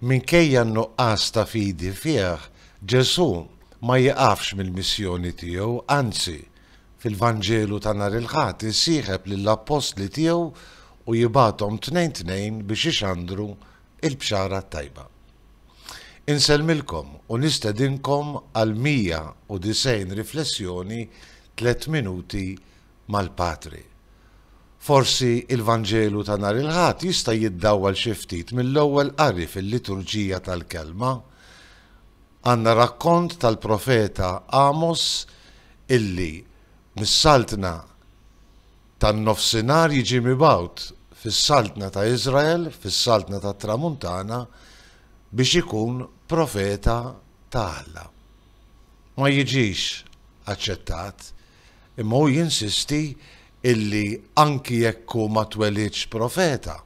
Minkejja n-nuqqas ta' fidi fih, Ġesù ma jieqafx mill-missjoni tiegħu, anzi, fil-Vanġelu ta' nhar il-Ħadd isieħeb lill-appostli tiegħu u jibgħathom tnejn tnejn biex ixandru l-Bxara t-Tajba. Insellmilkom u nistedinkom għal 190 riflessjoni tliet minuti mal-Patri. Forsi l-Vanġelu ta' nhar il-Ħadd jista' jiddawwal xi ftit mill-ewwel qari fil-Liturġija tal-Kelma. Għandna rakkont tal-profeta Għamos illi mis-Saltna tan-Nofsinhar jiġi mibgħut fis-Saltna ta' Iżrael, fis-Saltna tat-Tramuntana, biex ikun profeta ta' Alla. Ma jiġix aċċettat. Imma hu jinsisti illi anki jekk hu ma twelidx profeta,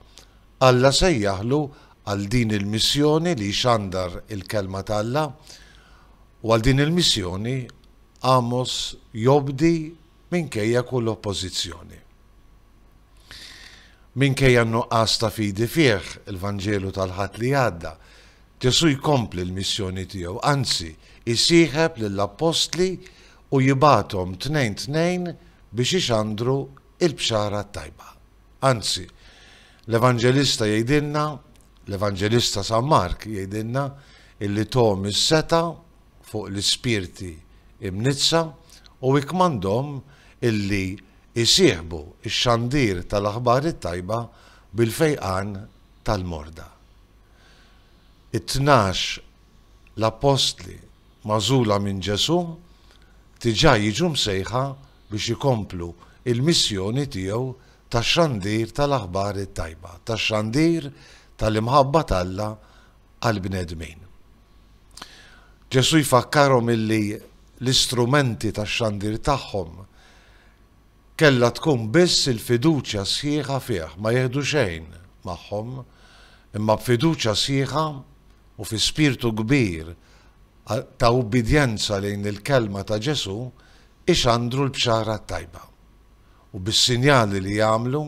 Alla sejjaħlu għal din il-missjoni li jxandar il-Kelma t'Alla, u għal din il-missjoni Għamos jobdi minkejja kull oppożizzjoni. Minkejja n-nuqqas ta' fidi fih, il-Vanġelu tal-Ħadd li għadda, Ġesù jkompli l-missjoni tiegħu, anzi, isieħeb lill-appostli u jibgħathom tnejn tnejn biex ixandru l-Bxara t-Tajba. Anzi, l-Evanġelista jgħidilna, l-Evanġelista San Mark jgħidilna illi thom is-setgħa fuq l-ispirti imniġġsa u ikkmandhom illi jsieħbu x-xandir tal-Aħbar it-Tajba bil-fejqan tal-morda. It-tnax l-appostli magħżula minn Ġesù diġà jiġu msejħa biex ikomplu l-missjoni tiegħu ta' xandir tal-aħbar it-tajba, ta' xandir tal-imħabba t'Alla għall-bnedmin. Ġesù jfakkarhom illi l-istrumenti tax-xandir tagħhom Kellha tkun biss il-fiduċja sħiħa fih, ma jieħdu xejn magħhom, imma b'fiduċja sħiħa u fi spirtu kbir ta' ubbidjenza lejn il-kelma ta' Ġesù ixandru l-Bxara t-Tajba. U bis-sinjali li jagħmlu,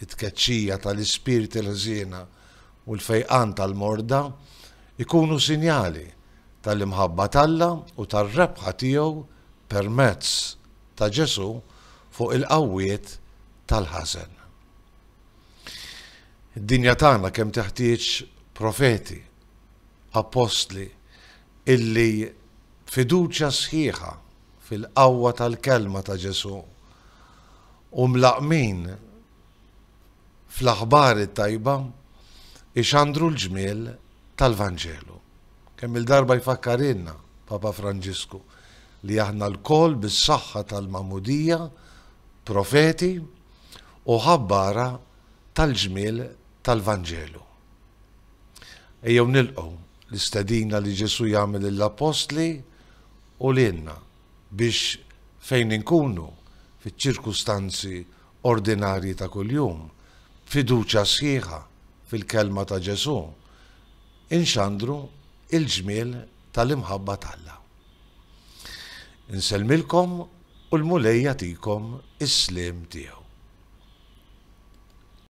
it-tkeċċija tal-ispirti l-ħżiena u l-fejqan tal-morda, ikunu sinjali tal-imħabba t'Alla u tar-rebħa tiegħu permezz ta' Ġesù fuq il-qawwiet tal-ħażen. Id-dinja tagħna kemm teħtieġ profeti, appostli illi fiduċja sħiħa fil-qawwa tal-kelma ta' Ġesù u mlaqqmin fl-aħbar it-tajba ixandru l-ġmiel tal-Vanġelu. Kemm-il darba jfakkarilna Papa Franġisku li aħna lkoll bis-saħħa tal-Magħmudija profeti u ħabbara tal-ġmiel tal-Vanġelu. Ejjew nilqgħu l-istedina li Ġesù jagħmel lill-Appostli u lilna biex fejn inkunu, fiċ-ċirkustanzi ordinarji ta' kuljum, b'fiduċja sħiħa fil-Kelma ta' Ġesù, inxandru l-ġmiel tal-imħabba t'Alla. Insellmilkom u l-Mulej jagħtikom is-sliem tiegħu.